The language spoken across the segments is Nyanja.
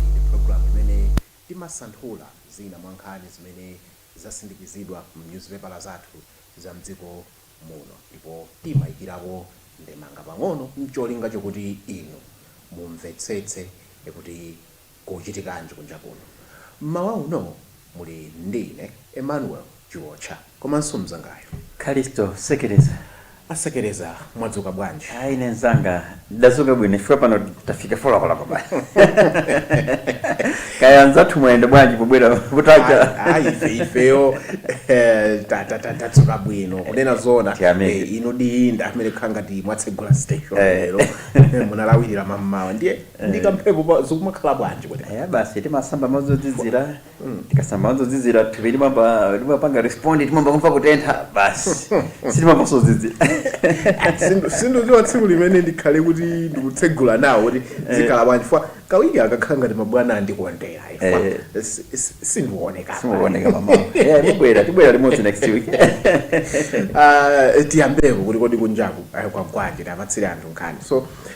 Iyi ndi pulogalamu imene timasanthula zina mwa nkhani zimene zasindikizidwa m'nyuzipepala zathu za m'dziko muno ndipo timaikirapo ndemanga pang'ono n'cholinga chokuti inu mumvetsetse kuti Kukuchitikanji kunja kuno? M'mawa uno muli ndi ine, Emmanuel Chiwotcha, komanso mnzangayo. Kalisto Sekereza. A Sekereza, mwadzuka bwanji? Ayi ine mnzanga, ndadzuka bwino chifukwa pano tafika folokoloko basi. Kaya anzathu mwayenda bwanji pobwera kutacha? Ayi, ayi ife, ifeyo ta, ta, ta, tadzuka bwino. Kunena zoona, Tiyamike. eh, inudi ndi amene kukhala ngati mwatsegula station Eh. lero. Munalawirira mammawa ndiye. ndi kamphepo pa- zikumakhala bwanji kuti Eh, basi timasamba madzi ozizira tikasamba madzi ozizira thupi limayamba limapanga respond timayamba kumva kutentha basi sitimamvanso zozizira Sindu- sinduziwa tsiku limene ndikhale kuti ndikutsegula nawo kuti zikhala bwanji fwa kawiri akakhala ngati mabwana andikondera ifwa Eh. si- si- sindiwoneka simukuoneka mmawa Eh, tibwera tibwera limodzi next week Ah, tiyambeko kuti kodi kunjaku ah, kwagwanji tawapatsire anthu nkhani so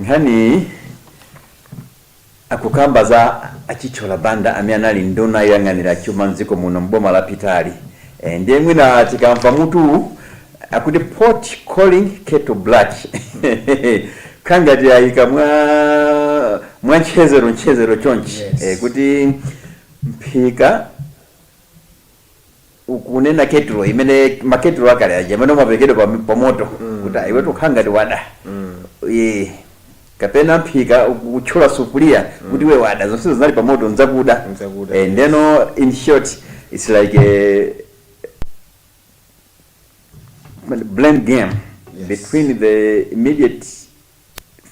Nkhaniyi akukamba za a Chithyola Banda amene anali nduna yoyang'anira chuma mdziko muno m'boma lapitali. Eeh ndiye mwina tikamva mutuwu akuti pot calling kettle black kukhala ngati ayika mwa mwa ntchezero ntchezero chonchi Yes. kuti mphika. ukunena ketulo imene maketulo akale aja amene amaphikidwa pa, pa moto kuti mm. iwetu ukhala ngati wada mm. e, kapena mphika kutchula sufuria mm. kuti iwe wada zonse zinali pa moto ndi zakuda e, eh, ndeno in short it's like a blame game yes. between the immediate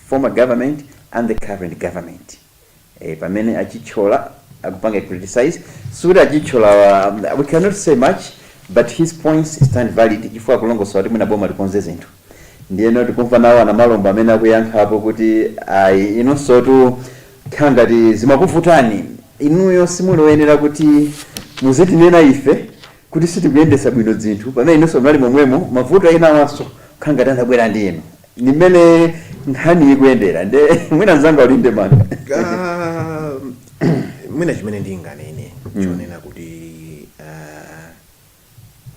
former government and the current government ee pamene a Chithyola akupanga criticise sikuti a Chithyolawa we cannot say much but his points stand valid chifukwa akulongosola kuti mwina boma likonze zinthu ndiyeno tikumva nawo a Namalomba amene akuyankhapo kuti ayi inunsotu kukhala ngati zimakuvutani inuyo simuli oyenera kuti muzitinena ife kuti sitikuyendetsa bwino zinthu pamene inunso munali momwemo mavuto enawanso kukhala ngati anabwera ndi inu ndi mmene nkhaniyi ikuyendera nde mwina mzanga uli ndi ndemanga Ah, mwina chimene ndinganene chonena kuti ah,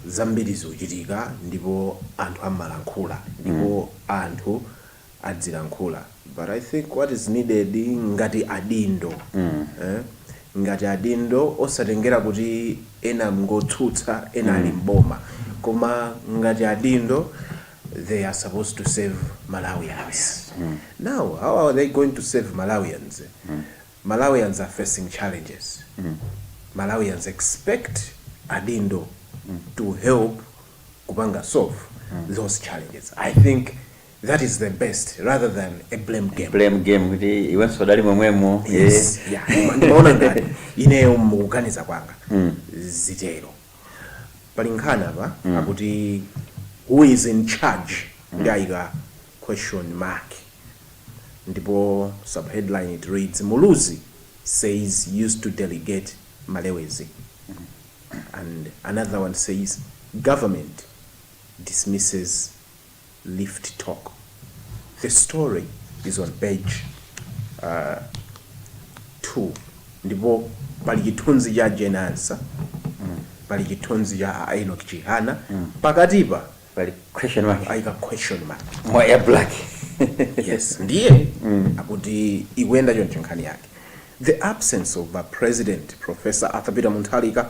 zambiri zikuchitika ndipo anthu amalankhula ndipo anthu adzilankhula but i think what is needed ngati adindo eh ngati adindo osatengera kuti ena ngotsutsa ena ali mboma koma ngati adindo they are supposed to serve malawians now how are they going to serve malawians malawians are facing challenges malawians expect adindo to help kupanga solve those challenges i think That is the best rather than a blame game. Blame game kuti iwenso udali momwemo. Yes. Eh. Yeah. Ndimaona ngati ineyo mukuganiza kwanga. Mm. Zimatero. Pali nkhani apa mm. akuti who is in charge mm. ndiye ayika question mark. Ndipo subheadline it reads Muluzi says used to delegate Malewezi. Mm. And another one says government dismisses rift talk the story is on page 2 ndipo pali chithunzi cha Jane Ansah pali chithunzi cha a Enoch Chihana pakatipa pali question mark ayika question mark mwa ya black yes ndiye akuti ikuyenda choncho nkhani yake the absence of a president professor arthur peter mutharika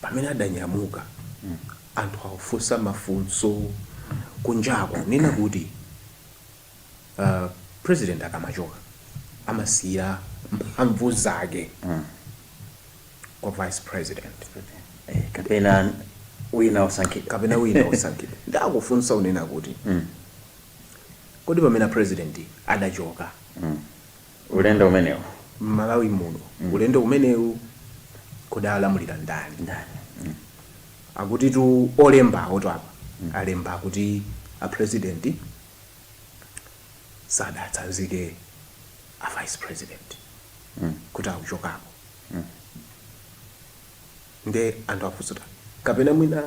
pamene adanyamuka anthu akufunsa mafunso kunjaku kunena kuti uh, president akamachoka amasiya mphamvu zake kwa vice president Eh, kapena wina osankhidwa kapena wina osankhidwa ndiye akufunsa kunena kuti kodi pamene president adachoka ulendo umenewu. m'Malawi muno. Ulendo umenewu kodi akulamulira ndani? Ndani? Akutitu olembawotu apa alemba kuti a president sadatsanzike a vice president kuti akuchokapo. Ndiye anthu akufunsa kuti kapena mwina.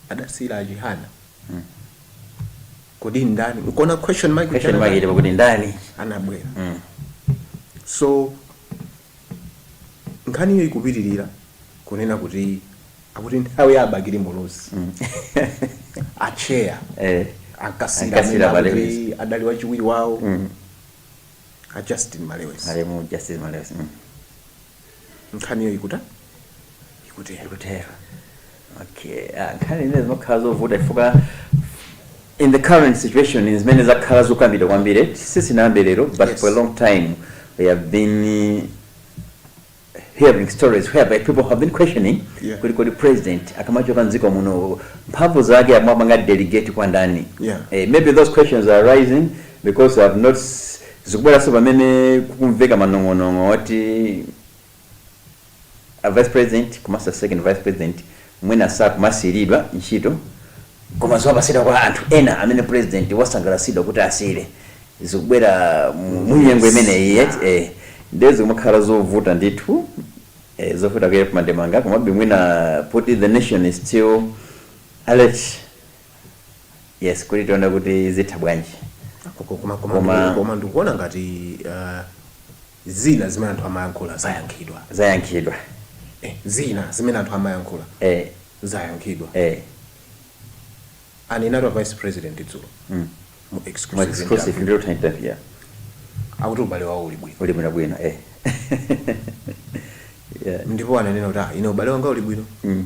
adasiyira a chihana kodi ndani nkuona question mark Question mark ilipo kuti ndani? anabwera Mm. so nkhaniyo ikupitirira kunena kuti akuti nthawi ya abakiri muluzi acheya Eh. ankasiyira Ankasiyira amene Malewezi. akuti adali wachiwiri wawo Mm. a justin malewezi Malemu Justin Malewezi. Mm. Nkhaniyo ikuta ikutero. ikutero okay ah, nkhani zimene zimakhala zovuta chifukwa in the current situation zimene zakhala zokambidwa kwambiri sizinayambe lero but Yes. for a long time we have been eh, hearing stories whereby people have been questioning Yeah. kuti kodi president akamachoka mdziko muno mphamvu zake amapanga delegate kwa ndani Yeah. eh, maybe those questions are arising because they have not s- Zikubweranso pamene kukumveka manong'onong'o oti a Vice President komanso a Second Vice President mwina sakumasiyiridwa ntchito koma zimapatsidwa kwa anthu ena amene President wasangalatsidwa kuti asiyire. Zikubwera mu nyengo imeneyi eti, eeh, ndiye zikumakhala zovuta ndithu, eeh, zovuta kuyankha mandemanga komabe mwina poti the nation is still alert. yes kuti tione kuti zitha bwanji Koma- koma- koma- Koma- koma ndikuona ngati ah, zina zimene anthu amayankhula zayankhidwa zayankhidwa Eh, zina zimene anthu amayankhula eh, zayankhidwa eh, anenatu a vice president dzulo mm. mu mu exclusive exclusive interview. ndiro tainterview yeah. akuti ubale wawo uli bwino uli bwino bwino eh. yeah. ndipo ananena kuti "Ah, ine ubale wanga uli bwino mm.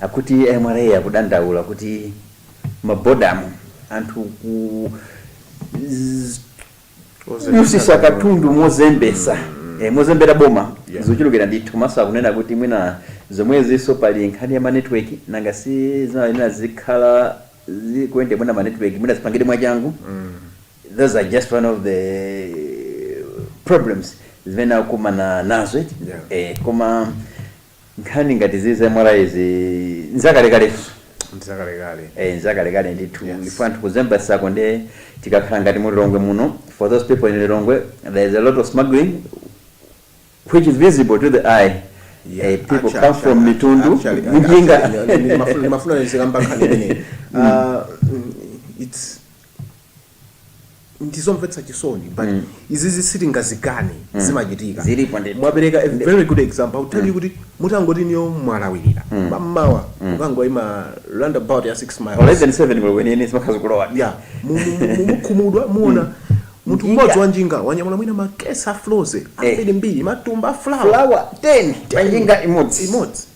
Akuti a MRA akudandaula kuti m'mabodamu anthu akudutsitsa katundu mozembetsa eh, mozembera boma Yeah. zochulukira ndithu komanso akunena kuti mwina zomwezinso pali nkhani ya ma network nanga si zinayenera zikhala zikuyenda mwina ma network mwina zipangidwe mwachangu those are just one of the problems zimene akumana nazo eti Yeah. eh, koma Nkhani ngati izi za MRA izi nzakalekaletu. Ndi zakalekale. Eeh nzakalekale ndithu Yes. chifukwa anthu kuzembetsako nde tikakhala ngati mu Lilongwe muno for those people in Lilongwe there is a lot of smuggling which is visible to the eye Yeah, Eh, people actually, come from actually, Mitundu, actually, m'njinga. actually, ndimafuna- ndimafuna ndizikamba nkhani imeneyi. Ah, mm, it's ndizomvetsa chisoni but mm. izizi sitingazikane mm. zimachitika mwapereka a very good example akutali mm. kuti mutangoti inuyo mwalawirira mm. m'mamawa mm. mukangoima roundabout ya 6 miles or less than 7 kwenikweni zimakhala zikulowa yeah mukhumudwa muona mm. munthu mmodzi wa njinga wanyamula mwina makesi a Frozy eh. ambirimbiri matumba a flour 10 panjinga imodzi imodzi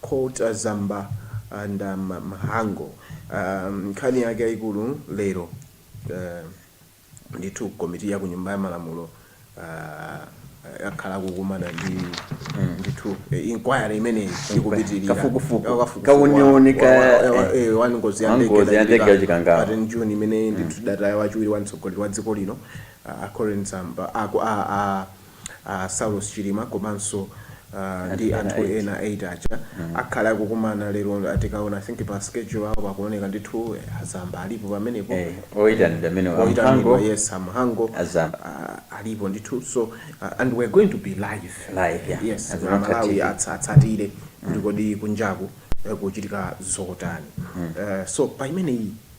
Quote A Zamba and a Mhango nkhani yake yaikulu lero ndithu komiti ya ku nyumba ya malamulo yakhala ikukumana ndi ndithu inquiry imeneyi ikupitirira kafukufuku kauniuni wa ngozi ya ndege ya ndege ya Chikangawa pa 10 June imene ndithu tidataya wachiwiri wa mtsogoleri wa dziko lino a Colleen Zamba a a Saulos Chilima komanso ndi anthu ena 8 aja akhale akukumana lero tikaona I think pa schedule yawo pakuoneka ndithu a Zamba alipo pamenepo, oyitanidwa yes a Mhango alipo ndithu so and we are going to be live yes a Malawi atsatire kuti kodi kunjaku kukuchitika zotani so pa imeneyi.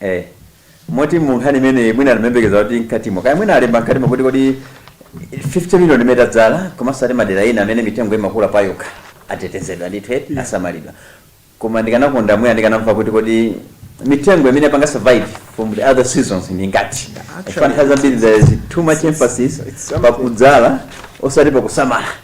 eh moti mu nkhani imeneyi mwina ndimayembekeza kuti mkatimo kaya mwina alemba mkatimo kuti kodi 50 million imene tadzala komanso ati madera ina amene mitengo imakula payokha atetezedwa ndithu eti Yeah. asamalidwa koma ndikanakonda mwina ndikanamva kuti kodi mitengo imene yapanga survive from the other seasons ndi ingati Actually, chifukwa nthawi zambiri there is too much emphasis it's something. pakudzala osati pakusamala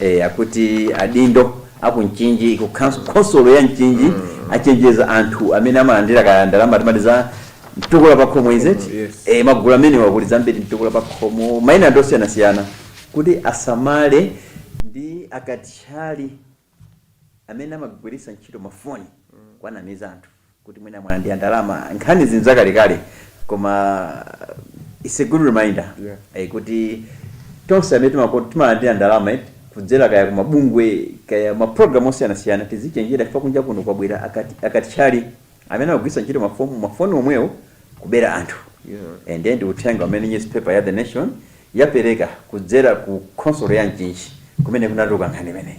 Eee akuti adindo aku Mchinji ku khans khonsolo ya Mchinji achenjeza anthu amene amalandira ka ndalama timati za mtukula pakhomo is it? Pakhomo, yes. Eee magulu amenewa kuli zambiri mtukula pakhomo maina ndi osiyanasiyana kuti asamale ndi akatchali amene amagwiritsa ntchito mafoni kuwanamiza anthu. kuti mwina mwalandira ndalama nkhanizi nzakalekale koma it's a good reminder Yeah. eh, kuti tonse amene timako- timalandira ndalama eh, kudzera kaya kumabungwe kaya maprogramu osiyanasiyana tizichenjera chifukwa kunja kuno kwabwera akati- akatchali amene akugwiritsa ntchito mafomu- mafoni omwewo kubera anthu Yeah. and then uthenga umene newspaper ya the nation yapereka kudzera ku khonsolo ya mchinji kumene kunatuluka nkhani imeneyi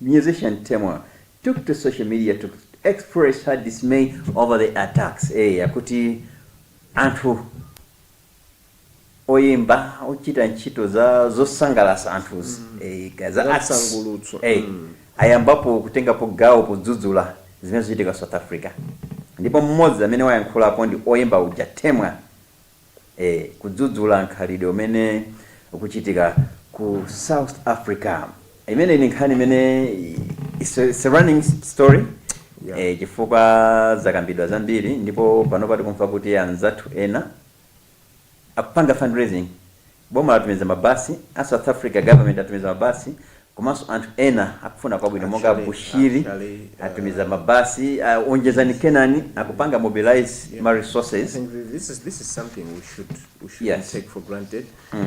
Musician Temwa took to social media to express her dismay over the attacks, ee akuti anthu oyimba ochita ntchito zosangalatsa anthuzi ee kaya za arts Zamsangalutso. ee ayambapo kutengapo gawo podzudzula zimene zikuchitika South Africa ndipo mmodzi amene wayankhulapo ndi oyimba uja Temwa e Kudzudzula mkhalidwe umene ukuchitika ku South Africa. Imeneyi ndi nkhani imene it's a, it's a running story Yeah. e chifukwa zakambidwa zambiri ndipo panopa tikumva kuti anzathu ena akupanga fundraising Boma latumiza mabasi, a South Africa government atumiza mabasi, komanso anthu ena akufuna kwabwino monga a Bushiri atumiza mabasi, a Onjezani Kenani akupanga mobilize ma resources, yes, mm.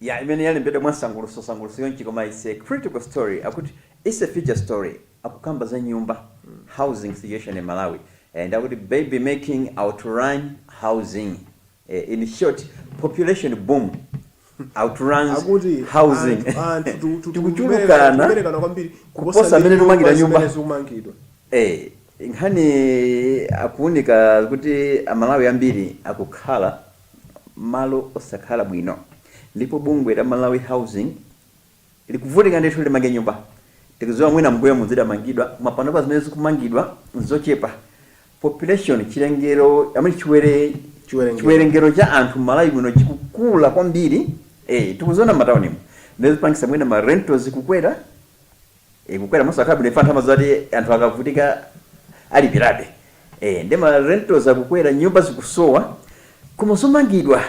ya imene yalembedwa mwansanguluso nsanguluso chonchi koma its a critical story akuti its a feature story akukamba za nyumba housing situation in malawi eh nde akuti baby making outrun housing eh in short population boom outruns akuti housing anthu anthu tu- tu- tikuberekana tikuchulukana tikuberekana kwambiri kuposa mmene tikumangira nyumba zimene zikumangidwa Eh, nkhani akuunika kuti amalawi ambiri akukhala malo osakhala bwino ndipo bungwe la Malawi Housing likuvutika ndithu kuti limange nyumba. Tikudziwa mwina mmbuyomu zidamangidwa koma panopa zimene zikumangidwa nzochepa. Population, chiwerengero, I mean chiwere, Chiwerengero. chiwerengero cha anthu m'Malawi muno chikukula kwambiri. Eh, tikuziona m'mataunimu. Nde zikupangitsa mwina ma rentals kukwera. E, kukwera mosakhala bwino chifukwa anthu amadziwa kuti anthu akavutika alipirabe e, nde ma rentals akukwera nyumba zikusowa koma zomangidwa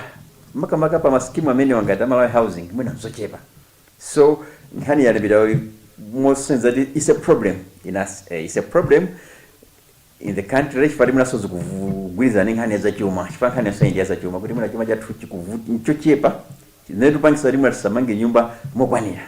makamaka pa masikimu amenewa ngati amalawi housing mwina nzochepa so nkhani yalembedwa moonetsa kuti it's a problem in us e, it's a problem in the country chifukwa kuti mwinanso zikugwirizana ndi nkhani ya zachuma chifukwa nkhani yonse ndi ya zachuma kuti mwina chuma chathu chikuvuta nchochepa zimene zikupangisa kuti mwina tisamange nyumba mokwanira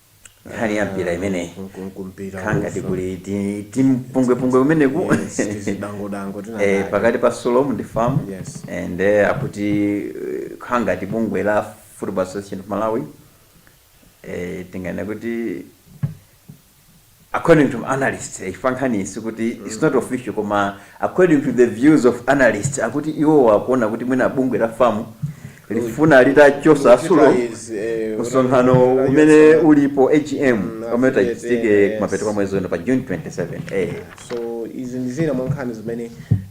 nkhani ya mpira imeneyi kangati kuli timpungwepungwe kumeneku eh, pakati pa sulom ndi fam yes. and eh, akuti eh, kangati bungwe la football association of malawi eh, tinganene kuti According to analysts eh, chifukwa nkhani sikuti it's not official koma according to the views of analysts akuti iwowa akuona kuti mwina bungwe la fam likufuna litachosa a sulom Utilize, eh, msonkhano utilize- umene ulipo agm Mm, omwe utachitike yes. kumapeto kwa mwezi uno pa june 27 eh. so izi ndi zina mwa nkhani zimene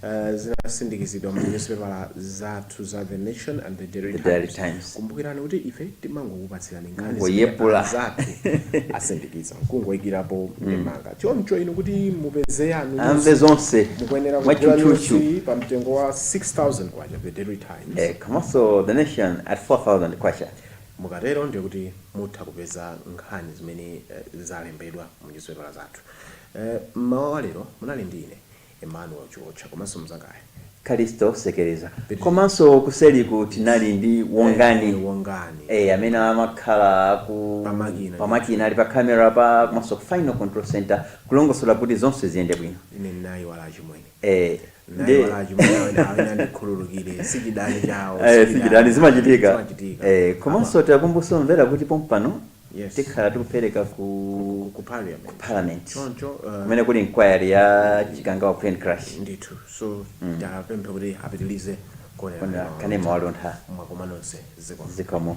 eh, zasindikizidwa mu newspaper zathu za the nation and the daily The Daily times Times. kumbukirani kuti ife timangokupatsirani nkhani Moyepula. zimene anzathu asindikiza nkungoikirapo ndemanga choncho inu kuti mupeze yanu mumve news, zonse mukuyenera kugula mwachutchutchu news iyi pa mtengo wa 6000 kwacha the daily times Eh, komanso the nation at 4000 kwacha mukatero ndiye kuti mutha kupeza nkhani zimene eh, zalembedwa mu nyuzipepala zathu Eh, mmawa wa lero munali ndi ine Emmanuel Chiotcha komanso mzangayi Kalisto Sekeleza komanso kuseliku tinali ndi Wongani eh, Wongani eh, amene amakhala aku pamakina pamakina ali pa camera apa komanso ku final control center kulongosola kuti zonse ziyende bwino ine nayiwala achimwene eh, ndinayiwala achimwene awo ina awo andikhululukire sichidani chawo eh, sichidani zimachitika eh, komanso takumbutsa omvera kuti pompano Yes. tikhala tikupereka ku ku parliament ku parliament choncho uh, kumene kuli inquiry ya chikangawa plane crash ndithu so tapempha kuti apitilize Ona kuonera kanema waluntha mwakoma nonse ziko zikomo